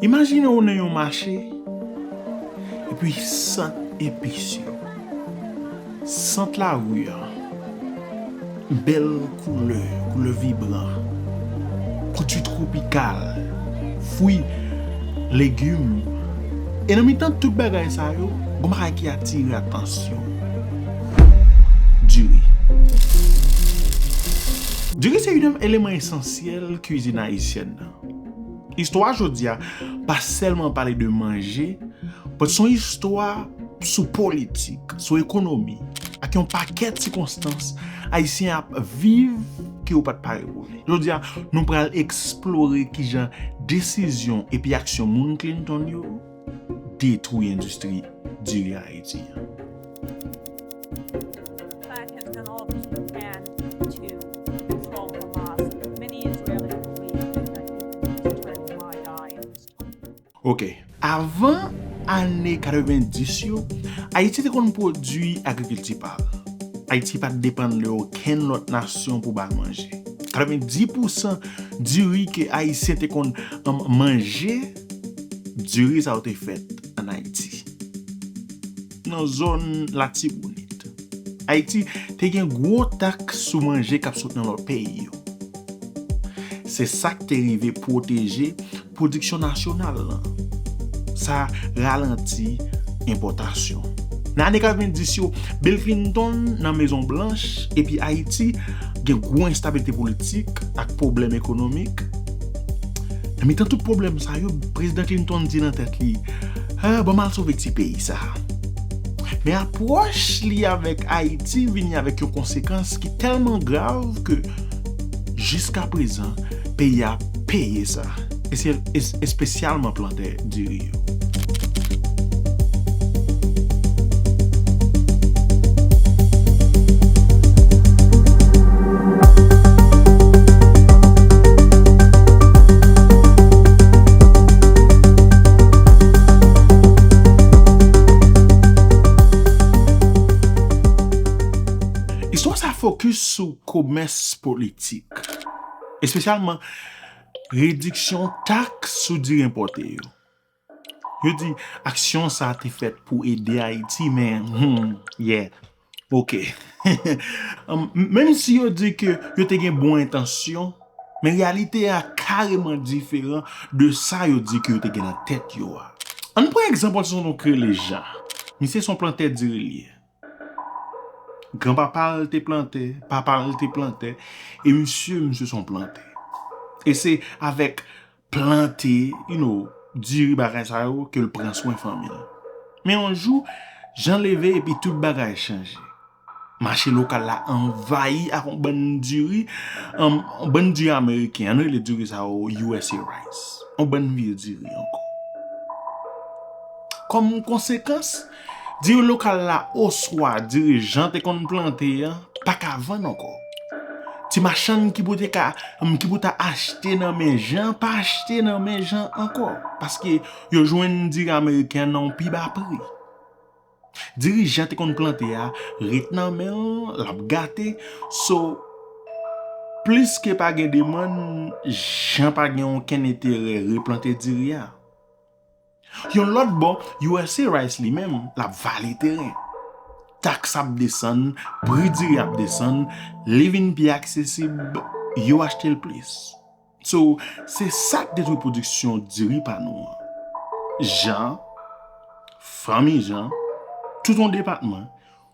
Imajine ou nan yon mache, epi sant epis yo, sant lari an, bèl koulè, koulè vibran, kouti twopikal, fwi, legim, e nan mitan tout bagay sa yo, gon bagay ki atire atansyon ou, diri. Diri se youn nan eleman esansyèl kuizin ayisyèn nan. Istwa jodi a pa sèlman pale de manje, but son istwa sou politik, sou ekonomi, ak yon pakèt sikonstans Ayisyen ap viv ke yo pat pare pou li. Jodi a, nou pral eksplore kijan desizyon epi aksyon moun Clinton yo, detwi endistri diri Ayiti an. Ok, avan ane 90 yo, Ayiti te konn pwodui agrikilti pa l. Ayiti pa t depann de okenn lòt nasyon pou ba l manje. 90 pousan diri ke Ayisyen te konn manje. Diri sa yo te fèt an Ayiti, nan zòn Latibonit. Ayiti te gen gwo taks sou manje k ap sot nan lòt peyi yo. Se sa k te rive pwoteje pwodiksyon nasyonal lan. Sa ralanti enpòtasyon. Nan ane 90 yo, Bill Clinton nan Mezon Blanch epi Ayiti gen gwo enstabilite politik ak pwoblèm ekonomik. Nan mitan tout pwoblèm sa yo, Prezidan Clinton di nan tèt li, Ah, ban m al sove ti peyi sa a. Men apwòch li avèk Ayiti vini avèk yon konsekans ki tèlman grav ke jiskaprezan peyi a ap peye sa, espesyalman plantan. tè diri yo. Istwa sa fokis sou komès politik, espesyalman Rediksyon taks sou diri enpòte yo. Yo di aksyon sa a te fèt pou ede Ayiti men humm yeah ok menm si yo di ke yo te gen bon entansyon men reyalite a kareman diferan de sa yo di ke yo te gen nan tèt yo a. Ann pran egzanp yon ti tonton kreye l Jan. Misye se yon plantè diri li ye. Gran papa l te plantè, papa l te plantè, e misye, misye son plantè. E se avèk plante, you know, diri bagay sa yo ke l pran swen fanmi l. Men yon jou, Jan leve epi tout bagay chanje. Mache lokal la anvayi ak yon bann diri, yon bann diri ameriken, an nou rele diri sa yo usa rice. Yon bann vye diri ankò. Kòm konsekans, Diri lokal la oswa diri Jan te konn plante a pa ka vann ankò. Ti machann ki pou te ka, ki pou ta achte nan men Jan pa achte nan men Jan ankò paske yo jwenn diri ameriken nan yon pi ba pri. Diri Jan te konn plante a ret nan men l, l ap gate so plis ke pa gen demann Jan pa gen okenn enterè replante diri a. Yon lòt bò, usa Rice li menm, l ap vale teren. Taks ap desann, pri diri ap desann, li vin pi aksesib, yo achte l plis. So, se sa k detwi pwodiksyon diri pa nou an. Jan, fanmi Jan, tout yon depatman,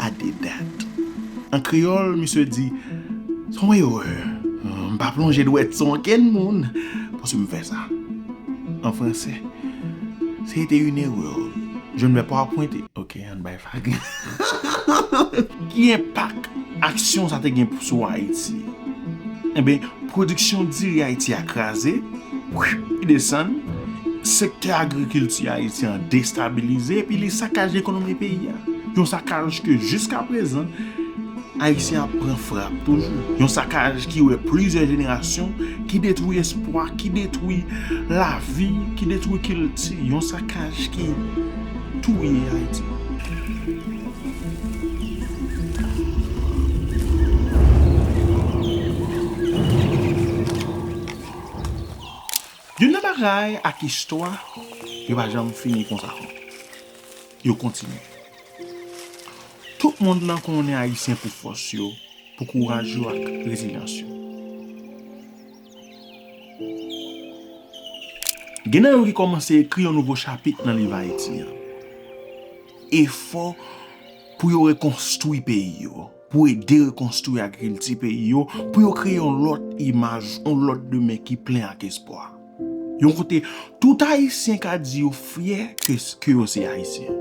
a de dat. An kreyòl, misye di, Se yon erè. M pa plonje dwèt sou okenn moun paske m fè sa. An franse, Se ete yn erè. Je ne vais pas pointer. Ok, ann bay vag. Ki enpak aksyon sa te gen sou Ayiti? Enben, pwodiksyon diri Ayiti a kraze. Pri desann, sektè agrikilti ayisyen an destabilize epi li sakaje ekonomi peyi a. Yon sakaj ke jiskaprezan, Ayisyen ap pran frap toujou. Yon sakaj ki wè plizyè jenerasyon, ki detwi espwa, ki detwi lavi, ki detwi kilti. Yon sakaj ki touye Ayiti. Youn nan bagay ak istwa yo pa janm fini konsa non yo kontinye tout mond lan konnen ayisyen pou fòs yo pou kouraj yo ak rezilyans yo gen nan yo ki kòmanse ekri yon nouvo chapit nan liv ayiti an efò pou yo rekonstwi peyi yo. pou ede rekonstwi agrikilti peyi yo, pou yo kreye yon lòt imaj, yon lòt demen ki plen ak espwa. Yon kote tout Ayisyen ka di yo fyè ke yo se Ayisyen.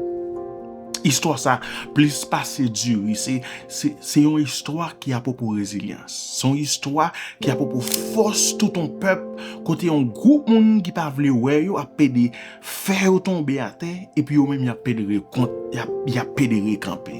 Istwa sa plis pase diri, se yon istwa ki apwopo rezilyans, se yon istwa ki apwopo fòs tout yon pèp kote yon gwoup moun ki pa vle wè yo ap pede fè yo tonbe atè epi yo menm y ap pede rekanpe.